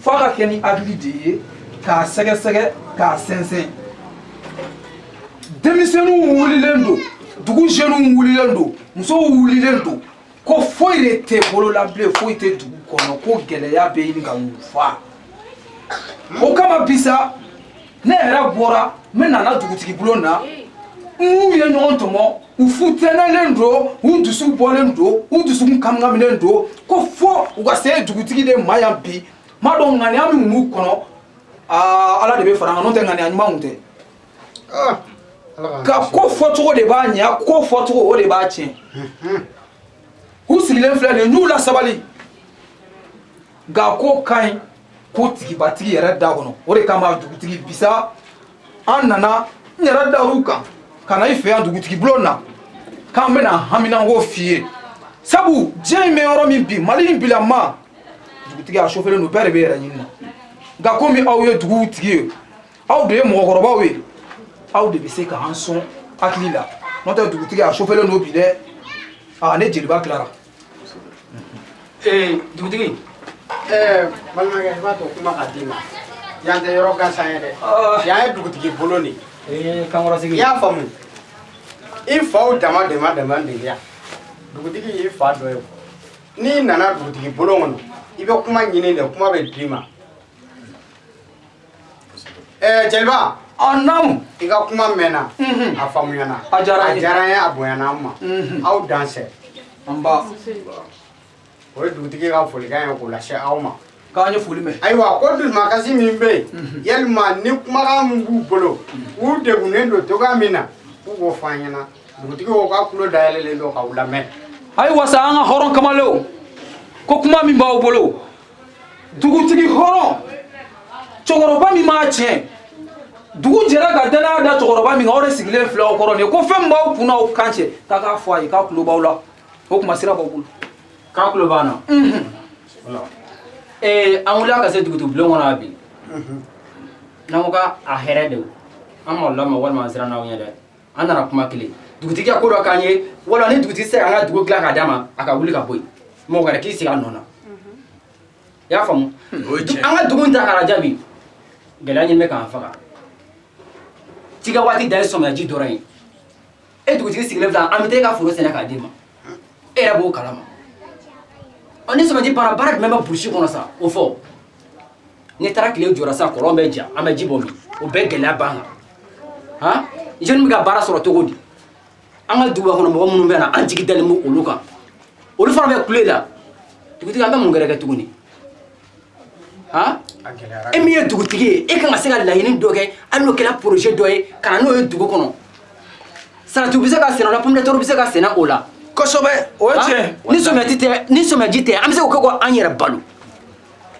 fo a ka kɛ ni hakili de ye k'a sɛgɛsɛgɛ k'a sɛnsɛn denmisɛnninw wulilen don dugu jeunes wulilen don musow wulilen don ko foyi de tɛ bolo la bilen foyi tɛ dugu kɔnɔ ko gɛlɛya bɛ ɲini ka mɔgɔ faga o kama bisa ne yɛrɛ bɔra n bɛ nana dugutigi bulon na ninnu ye ɲɔgɔn tɔmɔ u futɛnɛlen don u dusu bɔlen don u dusukun kaminkaminen don ko fo u ka se dugutigi de ma yan bi n m'a dɔn ŋaniya min b'u kɔnɔ ala de bɛ fara n'o tɛ ŋaniya ɲumanw tɛ ah, nka ko fɔcogo de b'a ɲɛ ko fɔcogo de b'a tiɲɛ u sigilen filɛ nin ye n y'u lasabali nka ko ka ɲi ko tigibatigi yɛrɛ da kɔnɔ o de kama dugutigi bisa an nana n yɛrɛ dar'u kan ka na i fɛ yan dugutigi bulon na k'an bɛna haminanko f'i ye sabu diɲɛ in bɛ yɔrɔ min bi mali in bilama dugutigi a sofelen don bɛɛ de bɛ yɛrɛ ɲini na nka komi aw ye dugutigi ye aw de ye mɔgɔkɔrɔbaw ye aw de bɛ se k'an sɔn hakili la n'o tɛ dugutigi a sofelen don bi dɛ aa ne jeliba tilara ee dugutigi ɛɛ balimakɛ i b'a to kuma ka d'i ma yan tɛ yɔrɔ gansan ye dɛ yan ye dugutigi bulon de ye i y'a faamu i faw dama dama dama de ye yan dugutigi y'i fa dɔ ye n'i nana dugutigi bulon kɔnɔ i bɛ kuma ɲini de kuma bɛ d'i ma Eh, jeliba ah, naamu i ka kuma mɛnna mhm. a faamuyana a diyara n ye a bonyana an ma mhm. aw dansɛ nba o ye dugutigi ka folikan ye k'o lase aw ma k'an ye foli mɛn ayiwa ko dugu makasi min bɛ yen mhm. walima ni kumakan min b'u bolo u degunnen don cogoya min na k'u k'o fɔ an ɲɛna dugutigi ko k'a tulo dayɛlɛlen don k'aw lamɛn ayiwa sa an ka hɔrɔn kamalenw ko kuma min b'aw bolo dugutigi hɔrɔn cɛkɔrɔba min ma tiɲɛ dugu jɛra ka danaya da cɛkɔrɔba min kan o de sigilen filɛ aw kɔrɔ nin ye ko fɛn min b'aw kun n'aw kan cɛ k'aw k'a fɔ a ye k'a tulo b'aw la o kuma sira b'aw bolo k'a tulo b'an na ee an wulila ka se dugutigi bulon kɔnɔ yan bi n'an ko ka a hɛrɛ de an malol'aw ma walima an sirann'aw ɲɛ dɛ an nana kuma kelen dugutigi ka dɔ k'an ye wala ni dugutigi tɛ se k'an ka dugu dilan ka d'an ma a ka wuli ka bɔ yen mɔgɔ wɛrɛ k'i sigi a nɔ na i y'a faamu an ka dugu ta k'a jaabi gɛlɛya in bɛ k'an faga cikɛ waati dan ye sɔmiyaji dɔrɔn ye e dugutigi sigilen filɛ an bɛ taa e ka foro sɛnɛ k'a d'i ma e yɛrɛ b'o kalama ɔ ni sɔmiyaji banna baara jumɛn bɛ burusi kɔnɔ sa o fɔ ne taara tile jɔra sa kɔlɔn bɛ ja an bɛ ji bɔ min o bɛɛ gɛlɛya b'an kan han jeune bɛ ka baara sɔrɔ cogo di an ka duguba kɔnɔ mɔgɔ minnu bɛ na an jigi dalen bɛ olu kan olu fana bɛ kule la dugutigi an bɛ mun yɛrɛ kɛ tuguni han e min ye dugutigi ye e kan ka se ka laɲini dɔ kɛ hali n'o kɛra projet dɔ ye ka na n'o ye dugu kɔnɔ salatiw bɛ se ka sɛnɛ o la pomme de terre bɛ se ka sɛnɛ o la kosɛbɛ o ye tiɲɛ ni samiyaji tɛ ni samiyaji tɛ an bɛ se k'o kɛ k'an yɛrɛ balo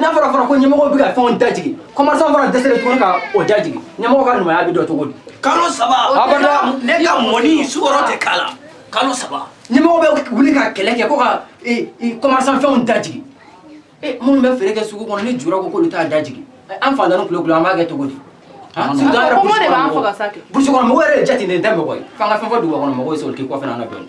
n'a fɔra fana ko ɲɛmɔgɔ bɛ ka fɛnw dajigi commerçant fana dɛsɛlen tuguni ka o dajigi ɲɛmɔgɔ ka nɔgɔya bɛ dɔn cogo di kalo saba abada ne ka mɔni sukɔrɔ tɛ k'a la kalo saba ɲɛmɔgɔ bɛ wuli ka kɛlɛ kɛ ko ka commerçant fɛnw dajigi minnu bɛ feere kɛ sugu kɔnɔ ni jula ko k'olu t'a dajigi an faantannin kulo kulo an b'a kɛ cogo di burusi kɔnɔ mɔgɔ yɛrɛ jatinen tɛ mɔgɔ ye f'an ka fɛn fɔ duguba kɔnɔ mɔgɔw ye sɔrɔ k'i kɔ filɛ an na dɔɔnin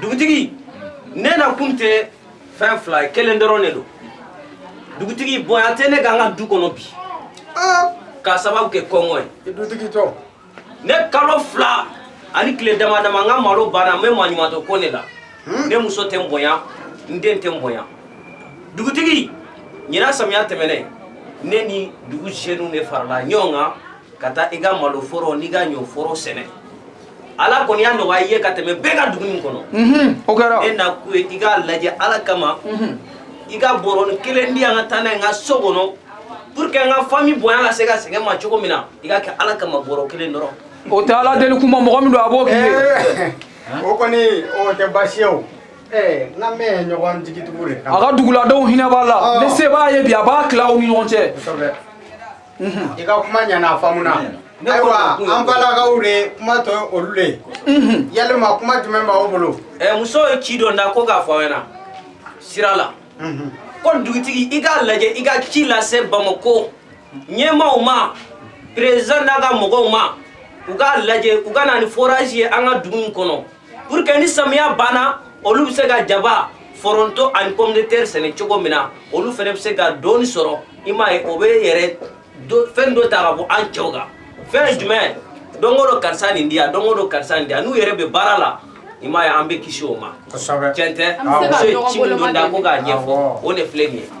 dugutigi ne na kun tɛ fɛn fila ye kelen dɔrɔn de don dugutigi bonya tɛ ne ka n ka du kɔnɔ bi k'a sababu kɛ kɔngɔ ye dugutigi tɔ ne kalo fila ani tile dama dama n ka malo banna n bɛ maɲumantɔ ko de la hmm? ne muso tɛ n bonya n den tɛ n bonya dugutigi ɲinan samiya tɛmɛnen ne ni dugu jeunew de farala ɲɔgɔn kan ka taa i ka maloforo n'i ka ɲɔforo sɛnɛ ala kɔni y'a nɔgɔya i ye ka tɛmɛ bɛɛ kan dugu in kɔnɔ mhm, o kɛra ne na kun ye i k'a lajɛ ala kama mhm. i ka bɔrɔni kelen di yan n ka taa n'a ye n ka so kɔnɔ pour que n ka fami bonya ka se ka segin n ma cogo min na i ka kɛ ala kama bɔrɔ kelen dɔrɔn o tɛ ala deli kuma mɔgɔ min don a b'o k'i ye eh, o kɔni o tɛ baasi ye o eh, a ka duguladenw hinɛ b'a la ah. ni se b'a ye bi a b'a tila aw ni ɲɔgɔn cɛ i ka kuma ɲana faamuna ayiwa an balakaw de kuma tɔ ye olu de ye mhm. yalima kuma jumɛn b'aw bolo eh, muso ye ci don n da ko k'a fɔ ɲɛna sira la mhm. ko dugutigi i k'a lajɛ i ka ci lase bamako ɲɛmaaw ma président n'a ka mɔgɔw ma k'u k'a lajɛ u ka na ni forage ye an ka dugu in kɔnɔ pour que ni samiya banna olu bɛ se ka jaba foronto ani pomme de terre sɛnɛ cogo min na olu fana bɛ se ka dɔɔni sɔrɔ i m'a ye o bɛ yɛrɛ fɛn dɔ ta ka bɔ an cɛw kan fɛn jumɛn don o don karisa nin di yan don o don karisa nin di yan n'u yɛrɛ bɛ baara la i m'a ye an bɛ kisi o ma tiɲɛ tɛ muso ye ci min don n da ko k'a ɲɛfɔ o de filɛ nin ye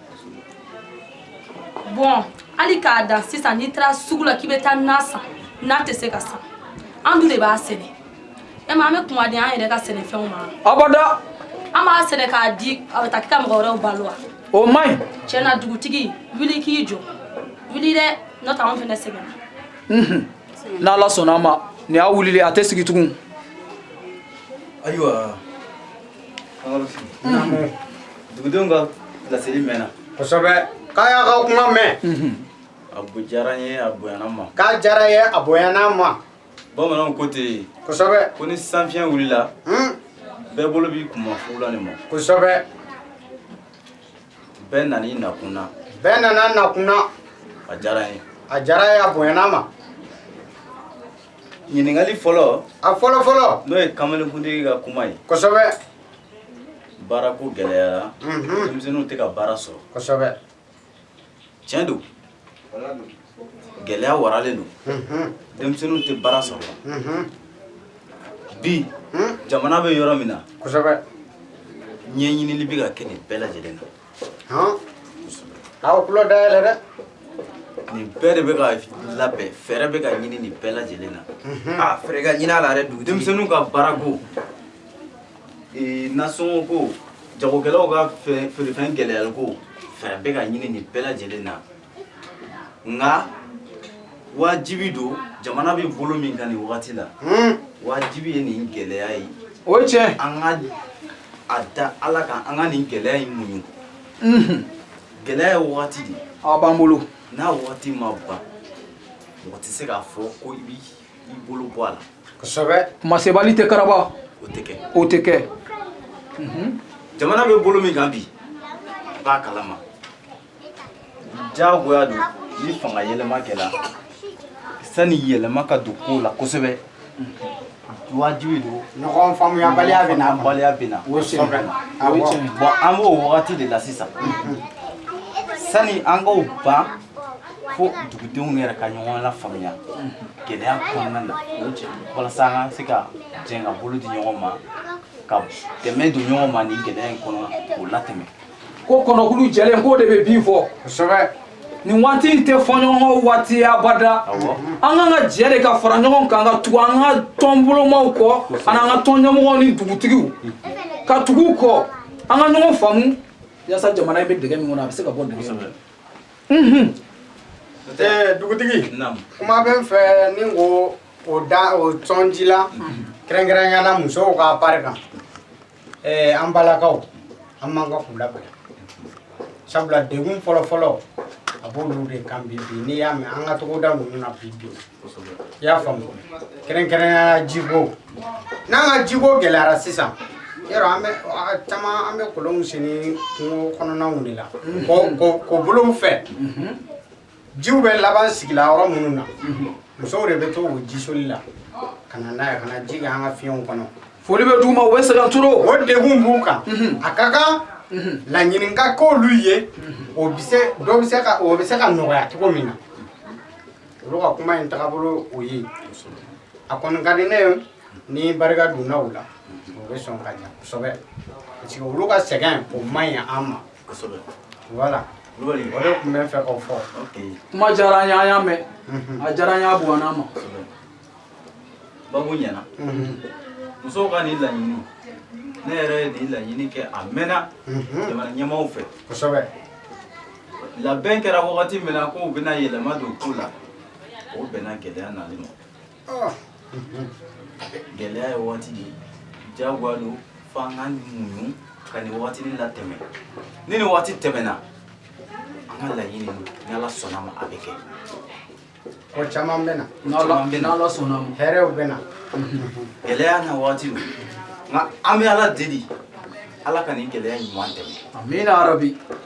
bɔn hali k'a dan sisan n'i taara sugu la k'i bɛ taa na san na tɛ se ka san an dun de b'a sɛnɛ e ma an bɛ kuma di an yɛrɛ ka sɛnɛfɛnw ma abada an b'a sɛnɛ k'a di a bɛ taa kɛ ka mɔgɔ wɛrɛw balo wa o man ɲi tiɲɛ na dugutigi wuli k'i jɔ wuli dɛ n'o tɛ anw fana sɛgɛnna mhm. n'ala sɔnna a ma nin y'a wulilen a tɛ sigi tugun ayiwa dugudenw ka laseli mɛnna kosɛbɛ k'a y'a ka kuma mɛn a bo diyara n ye a bonyana n ma k'a diyara n ye a bonyana n ma bamananw ko ten kosɛbɛ ko ni sanfiɲɛ wulila Hmm, bɛɛ bolo b'i kunma fugula nin ma kosɛbɛ bɛɛ nana i nakun na bɛɛ nana nakun na a diyara n ye a diyara n ye a bonyana n ma ɲininkali fɔlɔ a fɔlɔ fɔlɔ n'o ye kamalenkuntigi ka kuma ye kosɛbɛ baarako gɛlɛyara mhm. denmisɛnninw tɛ ka baara sɔrɔ kosɛbɛ tiɲɛ don gɛlɛya waralen don mhm. denmisɛnninw tɛ baara sɔrɔ mhm. bi jamana bɛ yɔrɔ min na kosɛbɛ ɲɛɲinili bɛ ka kɛ nin bɛɛ lajɛlen na aw tulo dayɛlɛ dɛ nin bɛɛ de bɛ ka labɛn fɛɛrɛ bɛ ka ɲini nin bɛɛ lajɛlen na a fɛɛrɛ ka ɲini a la yɛrɛ dugu denmisɛnninw ka baarako nasɔngɔko jagokɛlaw ka feerefɛn gɛlɛyali ko fɛɛrɛ bɛ ka ɲini nin bɛɛ lajɛlen na nka wajibi don jamana bɛ bolo min kan nin wagati la wajibi ye nin gɛlɛya ye o ye tiɲɛ an ka a da ala kan an ka nin gɛlɛya in muɲu gɛlɛya ye wagati de ye a b'an bolo n'a wagati ma ban mɔgɔ tɛ se k'a fɔ ko i b'i i bolo bɔ a la kosɛbɛ tuma sebali tɛ karaba o tɛ kɛ o tɛ kɛ jamana bɛ bolo min kan bi a b'a kalama diyagoya don ni fanga yɛlɛma kɛra sani yɛlɛma ka don ko la kosɛbɛ wajibi don ɲɔgɔn faamuyabaliya bɛ na baliya bɛ na kosɛbɛ bɔn an b'o wagati de la sisan sani an k'o ban fo dugudenw yɛrɛ ka ɲɔgɔn lafaamuya gɛlɛya kɔnɔna na walasa an ka se ka jɛn ka bolo di ɲɔgɔn ma ka dɛmɛ don ɲɔgɔn ma nin gɛlɛya in kɔnɔ k'o latɛmɛ ko kɔnɔkulu jɛlen k'o de bɛ bii fɔ nin waati in tɛ fɔɲɔgɔnkɔ waati ye abada an ka kan ka jɛ de ka fara ɲɔgɔn kan ka tugu an ka tɔnbolomaw kɔ ani an ka tɔnɲɛmɔgɔw ni dugutigiw ka tugu u kɔ an ka ɲɔgɔn faamu yaasa jamana in bɛ dingɛ min kɔnɔ a bɛ se ka bɔ dingɛ min ɛɛ dugutigi kuma bɛ n fɛ ni n ko o da o tɔnci la kɛrɛnkɛrɛnyana musow ka pari kan Ɛɛ an balakaw an b'an ka kunda bɔ sabula degun fɔlɔ fɔlɔ a b'olu de kan bi bi n'i y'a mɛn an ka togoda ninnu na bi bi i y'a faamu kɛrɛnkɛrɛnya jiko n'an ka jiko gɛlɛyara sisan yɔrɔ caman an bɛ kɔlɔn sen kungo kɔnɔnaw de la ko bolo fɛ Jiw bɛ laban sigila yɔrɔ minnu na musow de bɛ to o jisoli la ka na n'a ye ka na ji kɛ an ka fiɲɛw kɔnɔ foli bɛ d'u ma u bɛ sɛgɛn tɔɔrɔ o degun b'u kan a ka kan laɲini ka k'olu ye o bɛ se dɔ bɛ se ka o bɛ se ka nɔgɔya cogo min na olu ka kuma in tagabolo o ye a kɔni ka di ne ye ni barika donna u la o bɛ sɔn ka ɲɛ kosɛbɛ parce que olu ka sɛgɛn o man ɲi an ma kosɛbɛ voilà kulubali o de tun bɛ fɛ k'o fɔ ok kuma diyara an ye an y'a mɛn a diyara an y'a bɛnna an ma kosɛbɛ bawo ɲɛna musow ka nin laɲini ne yɛrɛ ye nin laɲini kɛ a mɛnna jamana ɲɛmaaw fɛ kosɛbɛ labɛn kɛra wagati min na k'u bɛna yɛlɛma don ko la o bɛnna gɛlɛya nali ma Gɛlɛya ye waati de ye jagoya don f'an ka muɲu ka nin waati latɛmɛ ni nin waati tɛmɛna an ka laɲini n'ala sɔnna ma a bɛ kɛ ko caman bɛ ala sɔnna hɛrɛw bɛ na gɛlɛya na waati don nka an bɛ ala deli ala ka nin gɛlɛya ɲuman tɛmɛ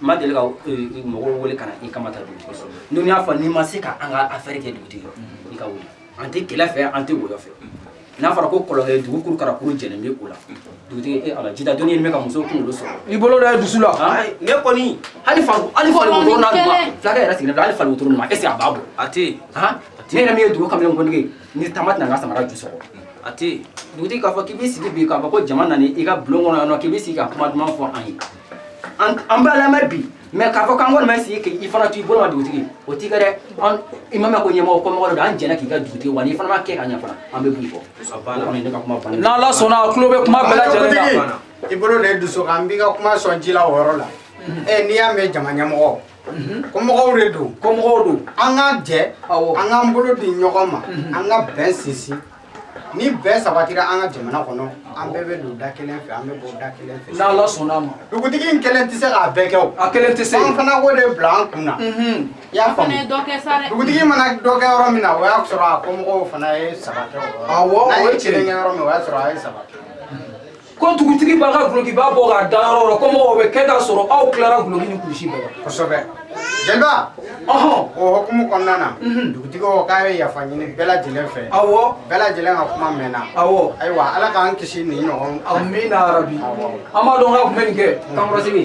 ma deli ka mɔgɔw wele ka na i kama taa dugutigi so n'u y'a fɔ n'i ma se ka an ka affaire kɛ dugutigi la mm-hmm. i ka wuli an tɛ kɛlɛ fɛ an tɛ wɔyɔ fɛ mm-hmm. n'a fɔra ko kɔlɔnkɛ dugu kuru kara kuru jɛlen bɛ o la mm-hmm. dugutigi e ala jita doni bɛ ka muso kunkolo sɔrɔ i bolo da i dusu la ne kɔni hali fali hali fali wotoro ɲuman fulakɛ yɛrɛ sigilen filɛ hali fali wotoro ɲuman est ce que a b'a bɔ a tɛ yen ne yɛrɛ min ye dugu kamalen kuntigi ye ni taama tɛna n ka samara ju sɔgɔ a tɛ yen dugutigi k'a fɔ k'i b'i sigi bi k'a fɔ ko jama nani i ka bulon kɔnɔ yan nɔ k'i b'i sigi ka kuma duman fɔ an ye an b'a lamɛn bi mais k'a fɔ k'an kɔni m'i sigi k'i fana to i bolo ma dugutigi o t'i kɛ dɛ i m'a mɛn ko ɲɛmɔgɔ kɔmɔgɔ de don an jɛnna k'i kɛ dugutigi wa n'i fana m'a kɛ ka ɲɛ fana an bɛ b'i kɔ n'ala sɔnna a tulo bɛ kuma bɛɛ lajɛlen na i bolo d'i dusu kan n b'i ka kuma sɔn ji la o yɔrɔ la ɛ n'i y'a mɛn jama ɲɛmɔgɔ kɔmɔgɔw de don kɔmɔgɔw don an k'an jɛ an k'an bolo di ɲɔgɔn ma an ka bɛn sinsin ni bɛn sabatira an ka jamana kɔnɔ an bɛɛ bɛ don da kelen fɛ an bɛ bɔ da kelen fɛ n'ala sɔnna ma dugutigi in kelen tɛ se k'a bɛɛ kɛ o a kelen tɛ se an fana k'o de bila an kun na i y'a faamu dugutigi mana dɔ kɛ yɔrɔ min na o y'a sɔrɔ a kɔmɔgɔw fana ye saba kɛ o yɔrɔ awɔ o ye tiɲɛ yɔrɔ min o y'a sɔrɔ a ye saba kɛ ko dugutigi b'a ka dulɔkiba bɔ k'a da yɔrɔ la kɔmɔgɔw bɛ kɛ k'a sɔrɔ aw tilara dulɔki ni kulusi bɛɛ la kosɛbɛ jeliba ɔhɔn o hukumu kɔnɔna na dugutigi ko k'a ye yafa ɲini bɛɛ lajɛlen fɛ awɔ bɛɛ lajɛlen ka kuma mɛnna awɔ ayiwa ala k'an kisi nin ɲɔgɔn amiina yarabi an b'a dɔn k'a tun bɛ nin kɛ kankɔrɔsigi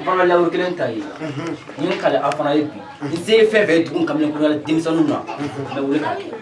n fana lawuli kelen ta ye n ye kale a fana ye bi n se ye fɛn fɛn ye dugu kamalen kɔnɔla denmisɛnninw na n bɛ wele k'a kɛ